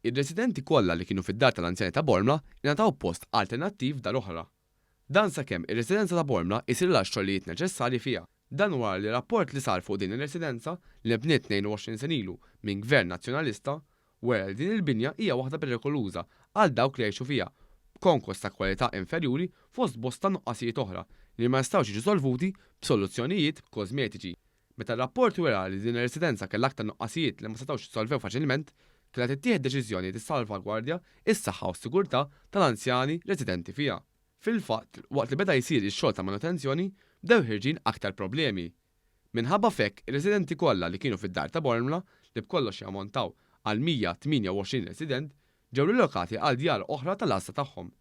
Ir-residenti kollha li kienu fid-Dar tal-Anzjani ta' Bormla ingħataw post alternattiv f'dar oħra. Dan sakemm ir-residenza ta' Bormla jsirilha x-xogħlijiet neċessarji fiha. Dan wara li rapport li sar fuq din ir-residenza, li nbniet 22 sena ilu minn Gvern Nazzjonalista, wera li din il-binja hija waħda perikoluża għal dawk li jgħixu fiha, b'konkos ta' kwalità inferjuri fost bosta nuqqasijiet oħra li ma jistgħux jiġu solvuti b'soluzzjonijiet kożmetiċi. Meta r-rapport wera li din ir-residenza kellha aktar nuqqasijiet li ma setgħux jissolvew faċilment, kellha tittieħed deċiżjoni li tissalvagwardja s-saħħa u s-sigurtà tal-anzjani residenti fiha. Fil-fatt, waqt li beda jsir ix-xogħol ta' manutenzjoni, bdew ħirġin aktar problemi. Minħabba f'hekk, ir-residenti kollha li kienu fid-Dar ta' Bormla, li b'kollox jammontaw għal 128 resident, ġew rilokati għal djar oħra tal-għassa tagħhom.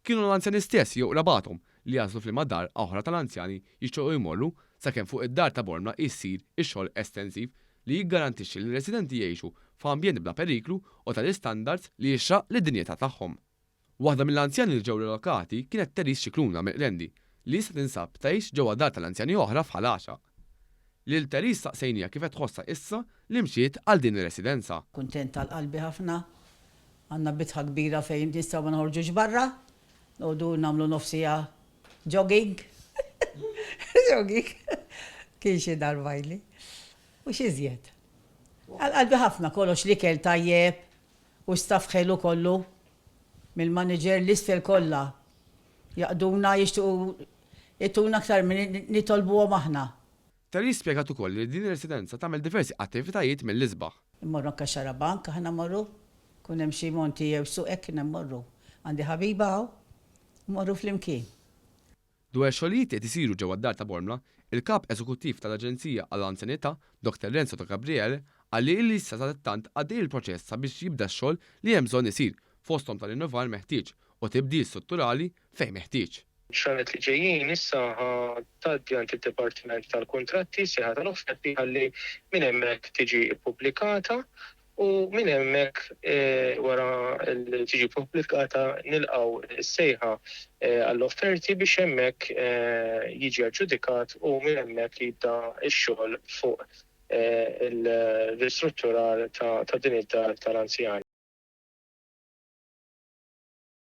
Kienu l-anzjani stess jew qrabathom li għażlu f'liema dar oħra tal-anzjani jixtiequ jmorru sakemm fuq id-dar ta' Bormla jsir ix-xogħol estensiv li jiggarantixxi li r-residenti jgħixu f'ambjent bla periklu u ta' l-istandards li jixraq lid-dinjità tagħhom. Waħda mill-anzjani li ġew rilokati kienet Therese Scicluna mill-Qrendi li issa tinsab tgħix ġewwa dar tal-anzjani oħra f'Ħal Għaxaq. Lil Therese staqsejniha kif qed tħossha issa li mxiet għal din ir-residenza. Kuntent għal qalbi ħafna. Għandna bitħa kbira fejn nistgħu ma noħorġux barra. Noqogħdu nagħmlu nofs siegħa jogging. Jogging. Kien xi darba ili. U x'iżjed. Għal qalbi ħafna kollox, l-ikel tajjeb u staff ħelu kollu. Mill-manager l-isfel kollha Jaqduna, jixtiequ jtuna aktar milli nitolbuhom aħna. Terry spjegat ukoll li din ir-residenza tagħmel diversi attivitajiet mill-isbaħ. Immorru anke x-xarabank aħna mmorru, ikun hemm xi monti jew suq hekk jiena mmorru. Għandi ħabiba hawn, immorru flimkien. Dwar ix-xogħlijiet li qed isiru ġewwa d-Dar ta' Bormla, il-Kap Eżekuttiv tal-Aġenzija għall-Anzjanità, Dr. Renzo De Gabriele, qal li ilissa sadattant għaddej il-proċess sabiex jibda x-xogħol li hemm bżonn isir, fosthom tal-innovar meħtieġ, u tibdil strutturali fejn meħtieġ. Xranet li ġejjin issa ħa tgħaddi għand id-Dipartiment tal-Kuntratti s-sejħa tal-offerti ħalli minn hemmhekk tiġi ppubblikata u minn hemmhekk wara li tiġi ppubblikata nilqgħu s-sejħa għall-offerti biex hemmhekk jiġi aġġudikat u minn hemmhekk jibda x-xogħol fuq il-ristrutturar ta' din id-dar tal-anzjani.